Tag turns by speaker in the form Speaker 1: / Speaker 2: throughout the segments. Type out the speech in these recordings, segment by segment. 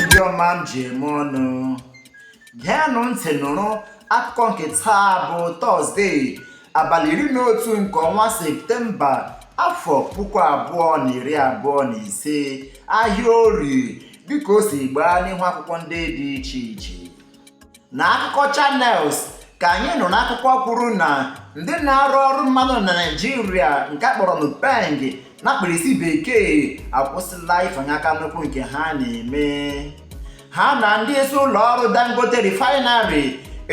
Speaker 1: ndị ọma m ji eme ọnụ geenụ ntị nụrụ akụkọ nke taa bụ tọzdee abalị iri na otu nke ọnwa septemba afọ puku abụọ na iri abụọ na ise ahịa orie dịka o si gbaa n'ihu akwụkwọ ndị dị iche iche n'akụkọ channels ka anyị nụrụ akụkọ kwuru na ndị na-arụ ọrụ mmanụ na naịjirịa nke a kpọrọ nupeng na mkpirisi bekee akwụsịla ịfanye aka n'ụkwụ nke ha na-eme ha na ndị isi ụlọ ọrụ dangote refinery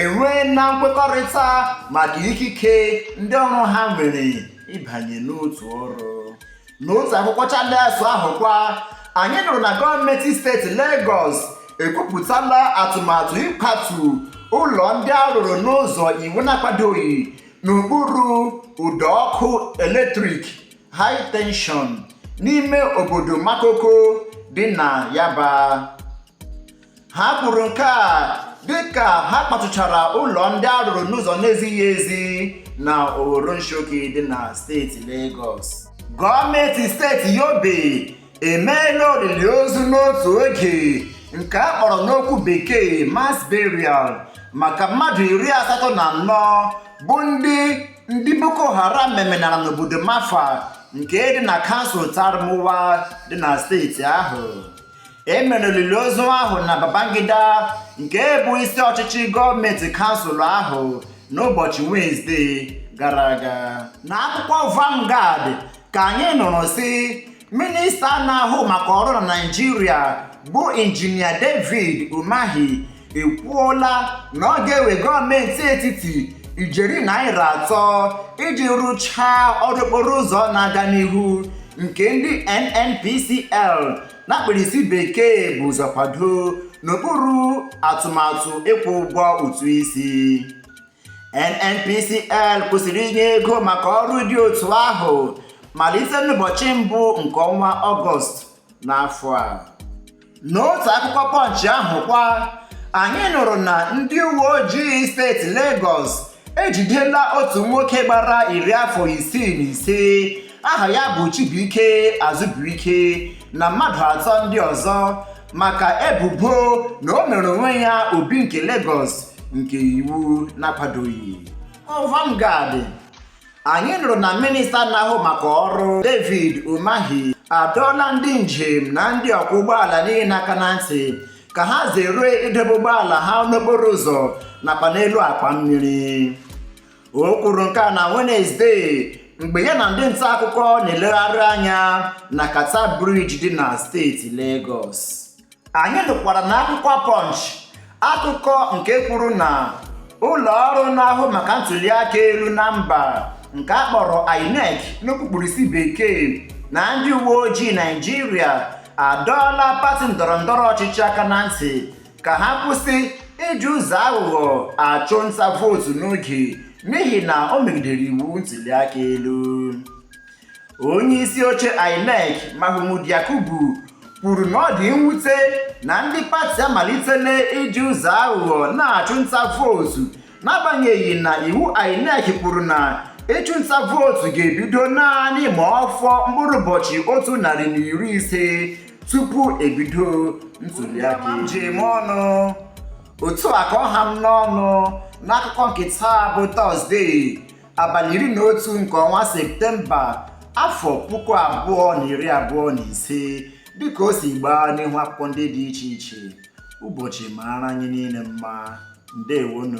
Speaker 1: enweela nkwekọrịta maka ikike ndị ọrụ ha nwere ịbanye n'otu ọrụ N'otu akwụkwọ Channels ahụ kwa, anyị nụrụ na gọọmenti steeti Legọs ekwupụtala atụmatụ ịkwatu ụlọ ndị a rụrụ n'ụzọ iwu na-akwadoghị n'okpuru ụdọ ọkụ eletrik high tension n'ime obodo Makoko dị na Yaba. ha kwuru nke a dịka ha kwatuchara ụlọ ndị a rụrụ n'ụzọ na-ezighị ezi na Oworonshoki dị na steeti Lagos gọọmenti steeti Yobe emeela olili ozu n'otu oge nke a kpọrọ n'okwu bekee mass burial maka mmadụ iri asatọ na anọ bụ ndị ndị Boko Haram memenara n'obodo Mafa nke dị na kansụl Tarmuwa dị na steeti ahụ e mere olili ozu ahụ na Babangida nke bụ isi ọchịchị gọọmenti kansụl ahụ n'ụbọchị Wenesde gara aga n'akwụkwọ Vanguard ka anyị nụrụ sị minista na-ahụ maka ọrụ na Naịjirịa bụ injinia David Umahi ekwuola na ọ ga-ewe gọọmenti etiti ijeri naira atọ iji rụchaa ọrụ okporo ụzọ na-aga n'ihu nke ndị NNPCL na mkpirisi bekee bu ụzọ kwadoo n'okpuru atụmatụ ịkwụ ụgwọ ụtụ isi NNPCL kwụsịrị inye ego maka ọrụ dị otu ahụ malite n'ụbọchị mbụ nke ọnwa Ọgọst n'afọ a n'otu akwụkwọ Punch ahụ kwa anyị nụrụ na ndị uwe ojii steeti Lagos ejidela otu nwoke gbara iri afọ isii na ise aha ya bụ Chibuike Azubuike na mmadụ atọ ndị ọzọ maka ebubo na o mere onwe ya Obi nke Lagos nke iwu na-akwadoghị Vanguard anyị nụrụ na minista na-ahụ maka ọrụ David Umahi adọọla ndị njem na ndị ọkwọ ụgbọala niile aka na ntị ka ha zere idebe ụgbọala ha n'okporo ụzọ nakwa n'elu akwa mmiri o kwuru nke a na Wenesde mgbe ya na ndị nta akụkọ na-elegharị anya na Carter Bridge dị na steeti Lagos anyị nụkwara n'akwụkwọ Punch akụkọ nke kwuru na ụlọ ọrụ na-ahụ maka ntuli aka elu na mba nke a kpọrọ INEC n'okpukpurisi bekee na ndị uwe ojii Naịjirịa adọọla pati ndọrọ ndọrọ ọchịchị aka na ntị ka ha kwụsị iji ụzọ aghụghọ achụ nta vootu n'oge n'ihi na o megidere iwu ntuli aka elu onye isi oche INEC Mahmood Yakubu kwuru na ọ dị mwute na ndị pati amalitela iji ụzọ aghụghọ na-achụ nta vootu n'agbanyeghị na iwu INEC kwuru na ịchụ nta vootu ga-ebido naanị ma ọ fọọ mkpụrụ ụbọchị otu narị na iri ise tupu ebido ntuliaka njem ọnụ otu a ka ọ ha m n'ọnụ n'akụkọ nke taa bụ tọzdee abalị iri na otu nke ọnwa septemba afọ puku abụọ na iri abụọ na ise dịka o si gbaa n'ihu akwụkwọ ndị dị iche iche ụbọchị mara anyị niile mma ndewonụ